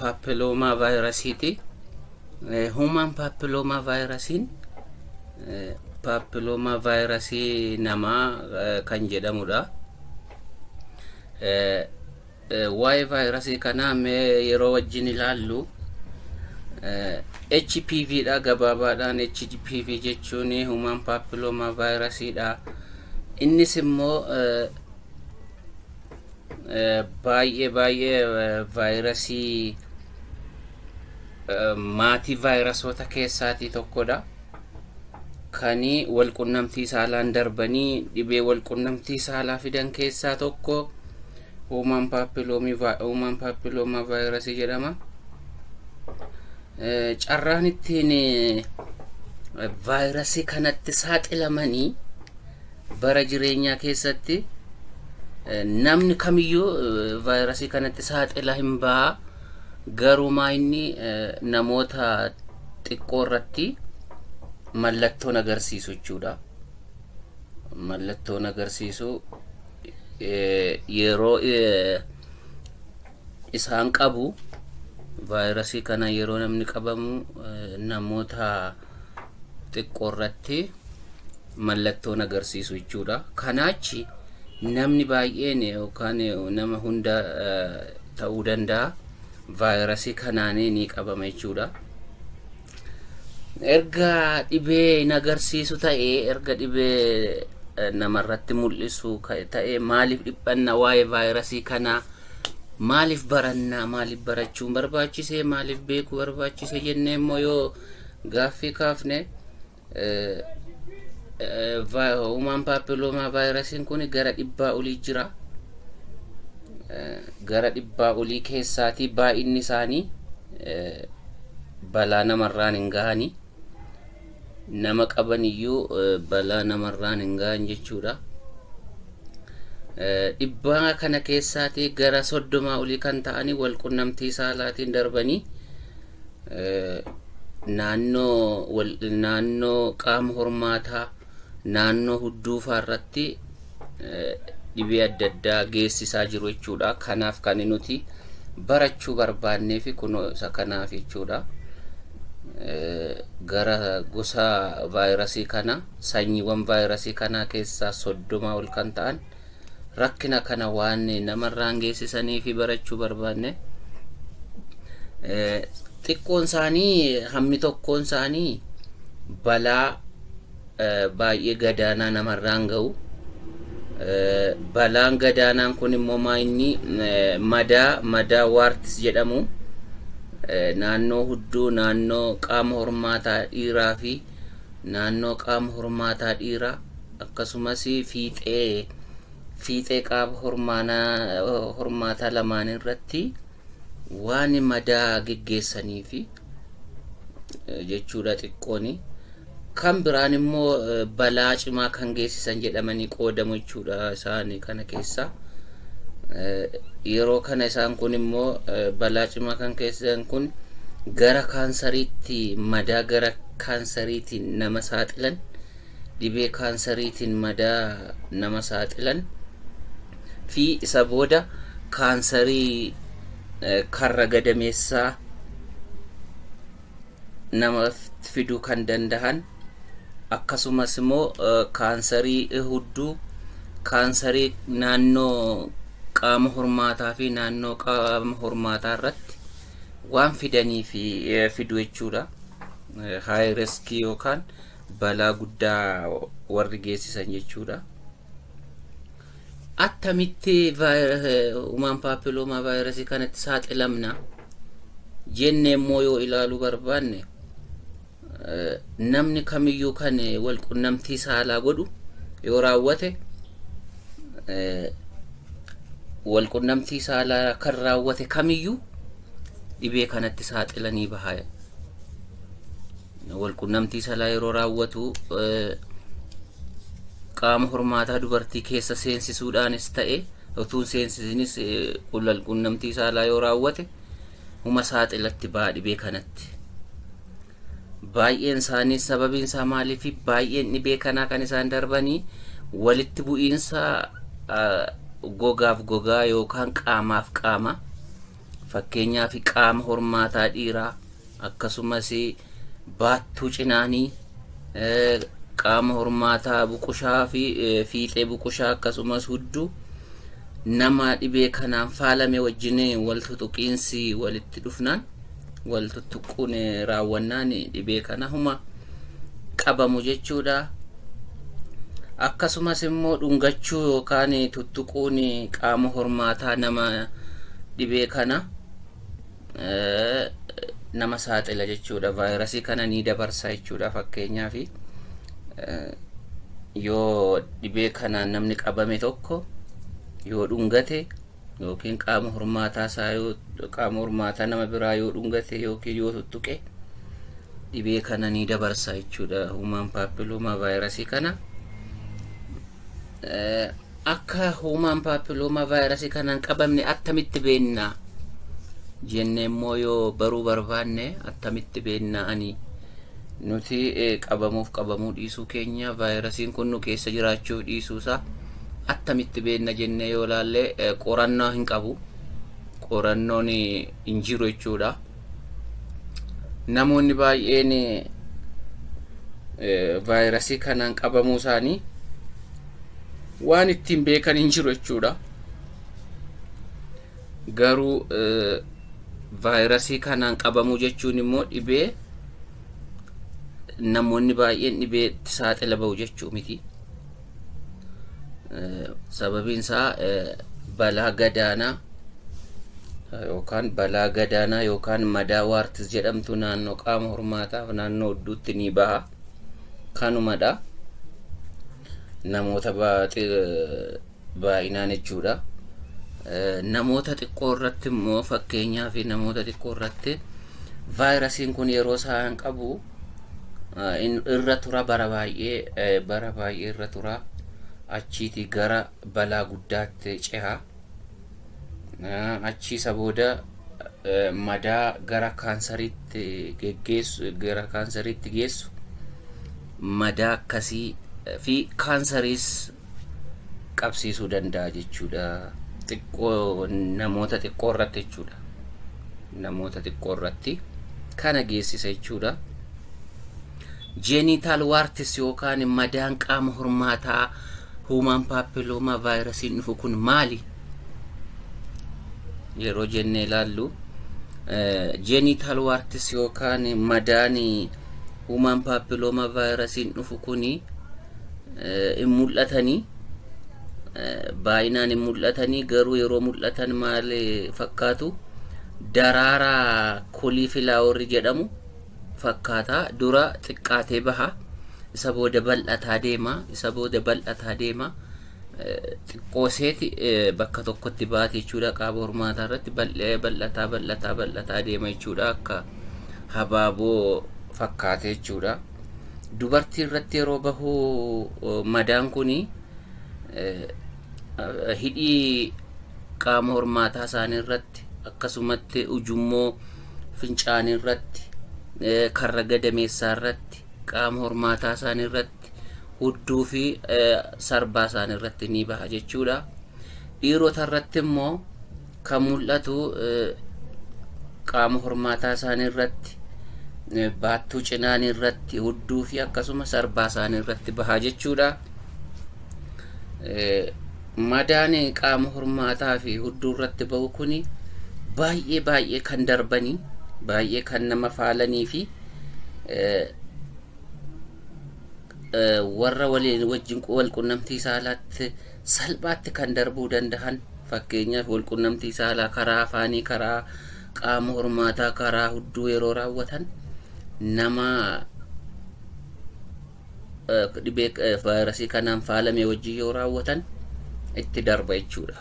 paapiloomaa vaayirasiiti. Huumaan paapiloomaa vaayirasiin paapiloomaa vaayirasii namaa kan jedhamudha. Waa'ee vaayirasii kanaa mee yeroo wajjin ilaallu HPV dha gabaabaadhaan HPV jechuun huumaan paapiloomaa vaayirasiidha. Innis immoo baay'ee baay'ee vaayirasii maatii vaayirasoota keessaatii tokkodha. Kanii walqunnamtii saalaan darbanii dhibee walqunnamtii saalaa fidan keessaa tokko huumaan paappilooma vaayirasii jedhama. Carraan ittiin vaayirasii kanatti saaxilamanii Bara jireenyaa keessatti namni kamiyyuu vaayirasii kanatti saaxila hin ba'a. Garumaa inni namoota xiqqoo irratti mallattoon agarsiisu jechuudha. Mallattoon agarsiisu yeroo isaan qabu vaayirasii kana yeroo namni qabamu namoota xiqqoo irratti mallattoon agarsiisu jechuudha. Kanaachi namni baay'een yookaan nama hunda ta'uu danda'a vaayirasii kanaan ni qabama jechuudha. Erga dhibee hin agarsiisu ta'e erga dhibee namarratti mul'isu ta'e maaliif dhiphanna waa'ee vaayirasii kanaa maaliif barannaa maaliif barachuun barbaachisee maaliif beekuu barbaachise jennee immoo yoo gaaffii kaafne Human papilloma vaayirasiin kun gara dhibbaa olii jira. Gara dhibbaa olii keessaatii baay'inni isaanii balaa namarraan hin gahani. Nama qaban iyyuu balaa namarraan hin gahan jechuudha. Dhibbaa kana keessaatii gara soddomaa olii kan ta'anii wal qunnamtii saalaatiin darbanii naannoo naannoo qaama hormaataa naannoo hudduufaa irratti dhibee adda addaa geessisaa jiru jechuudha. Kanaaf kan nuti barachuu barbaannee fi kunoo isa kanaaf jechuudha. Gara gosa vaayirasii kana sanyiiwwan vaayirasii kanaa keessaa soddomaa ol kan ta'an rakkina kana waan namarraan geessisanii fi barachuu barbaanne eh, xiqqoon isaanii hammi tokkoon isaanii balaa eh, baay'ee gadaanaa namarraan ga'u. Eh, Balaan gadaanaan kun immoo maa inni eh, madaa madaa waartis jedhamu eh, naannoo hudduu naannoo qaama hormaataa dhiiraa fi naannoo qaama hormaataa dhiiraa akkasumas fiixee fiixee qaab hormaanaa hormaataa lamaanii irratti waan madaa geggeessanii fi jechuudha xiqqooni. Kan biraan immoo balaa cimaa kan geessisan jedhamanii qoodamu jechuudha isaan kana keessaa. Yeroo kana isaan kun immoo balaa cimaa kan geessisan kun gara kaansariitti madaa gara kaansariitiin nama saaxilan dhibee kaansariitiin madaa nama saaxilan fi isa booda kaansarii karra gadameessaa namaaf fiduu kan danda'an akkasumas immoo kaansarii hudduu kaansarii naannoo qaama hormaataa fi naannoo qaama hormaataa irratti waan fidanii fi fidu jechuudha. Haay riskii yookaan balaa guddaa warri geessisan jechuudha. Attamitti human papilloma vaayirasii kanatti saaxilamna jennee immoo yoo ilaaluu barbaanne namni kamiyyuu kan wal qunnamtii saalaa godhu yoo raawwate wal qunnamtii saalaa kan raawwate kamiyyuu dhibee kanatti saaxilanii bahaa walqunnamtii salaa yeroo raawwatu qaama hormaataa dubartii keessa seensisuudhaanis ta'e utuu hin seensisinis walqunnamtii saalaa yoo raawwate huma saaxilatti ba'a dhibee kanatti. Baay'een isaanii sababiin isaa maaliif baay'een dhibee kanaa kan isaan darbanii walitti bu'iinsa gogaaf gogaa yookaan qaamaaf qaama. Fakkeenyaaf qaama hormaataa dhiiraa akkasumas baattuu cinaanii qaama hormaataa buqushaa fi fiixee buqushaa akkasumas hudduu nama dhibee kanaan faalame wajjin wal tutuqiinsi walitti dhufnaan wal tuttuqquun raawwannaan dhibee kana huma qabamu jechuudha. Akkasumas immoo dhungachuu yookaan tuttuquun qaama hormaataa nama dhibee kana nama saaxila jechuudha. Vaayirasii kana ni dabarsa jechuudha fakkeenyaaf yoo dhibee kanaan namni qabame tokko yoo dhungate yookiin qaama hormaataa isaa yoo qaama hormaataa nama biraa yoo dhungate yookiin yoo tuttuqe dhibee kana ni dabarsa jechuudha human papilloma vaayirasii kana Eh, akka human papilloma vaayirasii kana hin qabamne attamitti beekna jenne immoo yoo baruu barbaanne attamitti beekna ani nuti eh, qabamuuf qabamuu dhiisuu keenya vaayirasiin kun nu keessa jiraachuuf dhiisuu isaa attamitti beekna jennee yoo ilaalle qorannoo hin qabu. Qorannoon hin jiru jechuudha. Namoonni baay'een vaayirasii kanaan qabamuu isaanii waan ittiin beekan hin jiru jechuudha. Garuu vaayirasii kanaan qabamuu jechuun immoo dhibee namoonni baay'een dhibeetti saaxila ba'u jechuu miti. sababiin isaa balaa gadaanaa yookaan balaa gadaanaa yookaan madaa waartis jedhamtu naannoo qaama hormaataaf naannoo udduutti ni baha kanumadha namoota baay'inaan jechuudha namoota xiqqoo irratti immoo fakkeenyaaf namoota xiqqoo irratti vaayirasiin kun yeroo isaan qabu Ah, in- irra tura bara baay'ee eh, bara baay'ee irra tura achiiti gara balaa guddaatti ceha Ah, achii isa booda eh, madaa gara kaansariitti geggeessu gara kaansariitti geessu madaa akkasii eh, fi kaansariis qabsiisuu danda'a jechuudha. Xiqqoo namoota xiqqoo irratti jechuudha. Namoota xiqqoo irratti kana geessisa jechuudha. Jeeniitaal waartis yookaan madaan qaama hormaataa huumaan paappilooma vaayirasiin dhufu kun maali? Yeroo jennee ilaallu jeeniitaal waartis yookaan madaan huumaan paappilooma vaayirasiin dhufu kuni hin mul'atanii baay'inaan hin mul'atanii garuu yeroo mul'atan maal fakkaatu daraaraa kolii filaaworri jedhamu fakkaataa dura xiqqaatee baha isa booda bal'ataa deema isa booda bal'ataa deema xiqqoo seeti bakka tokkotti baate jechuudha qaaba hormaataa irratti bal'ee bal'ataa bal'ataa bal'ataa deema jechuudha akka habaaboo fakkaate jechuudha. dubartii irratti yeroo bahu madaan kuni hidhii qaama hormaataa isaanii irratti akkasumatti ujummoo fincaanii irratti karra gadameessaa irratti qaama hormaataa isaanii irratti hudduu fi sarbaa isaanii irratti ni baha jechuudha. Dhiirota irratti immoo kan mul'atu qaama hormaataa isaanii irratti baattuu cinaanii irratti hudduu fi akkasumas arbaa isaanii irratti bahaa jechuudha. Madaan qaama hormaataa fi hudduu irratti bahu kun baay'ee baay'ee kan darbanii baay'ee kan nama faalanii fi warra waliin wajjin wal qunnamtii saalaatti salphaatti kan darbuu dandahan fakkeenyaaf walqunnamtii saalaa karaa afaanii karaa qaama hormaataa karaa hudduu yeroo raawwatan nama dhibee vaayirasii kanaan faalame wajjin yoo raawwatan itti darba jechuudha.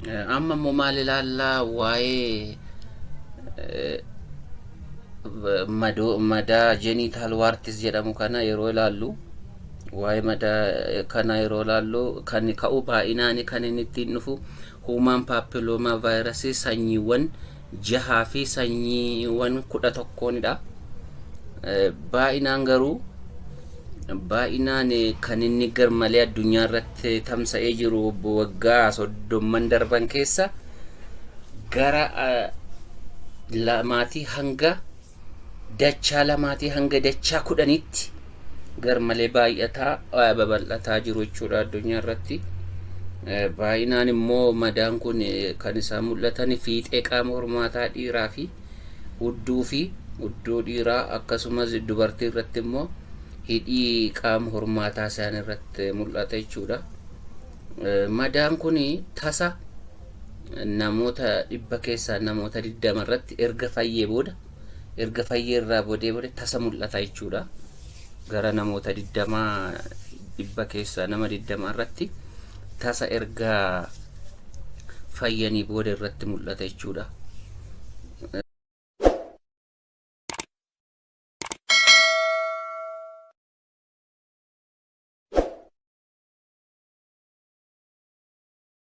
Eh, Amma immoo maal ilaallaa waa'ee eh, madoo madaa genital warts jedhamu kana yeroo ilaallu waa'ee madaa eh, kana yeroo ilaallu kan ka'u baay'inaani kan inni ittiin dhufu human papilloma virus sanyiiwwan jahaa fi sanyiiwwan kudha tokkoonidha. Baay'inaan garuu baay'inaan kan inni garmalee addunyaa irratti tamsa'ee jiru waggaa soddomman darban keessa gara lamaatii hanga dachaa lamaatii hanga dachaa kudhanitti garmalee baay'ataa eh, babal'ataa jiru jechuudha addunyaa irratti. Eh, Baay'inaan immoo madaan kun eh, kan isaan mul'atan fiixee qaama hormaataa dhiiraa fi hudduu fi hudduu dhiiraa akkasumas dubartii irratti immoo hidhii qaama hormaataa isaanii irratti mul'ata jechuudha. Eh, Madaan kun tasa namoota dhibba keessaa namoota 20 irratti erga fayyee booda erga fayyee irraa boodee boodee tasa mul'ata jechuudha. Gara namoota 20 dhibba keessaa nama 20 irratti tasa erga fayyanii booda irratti mul'ata jechuudha.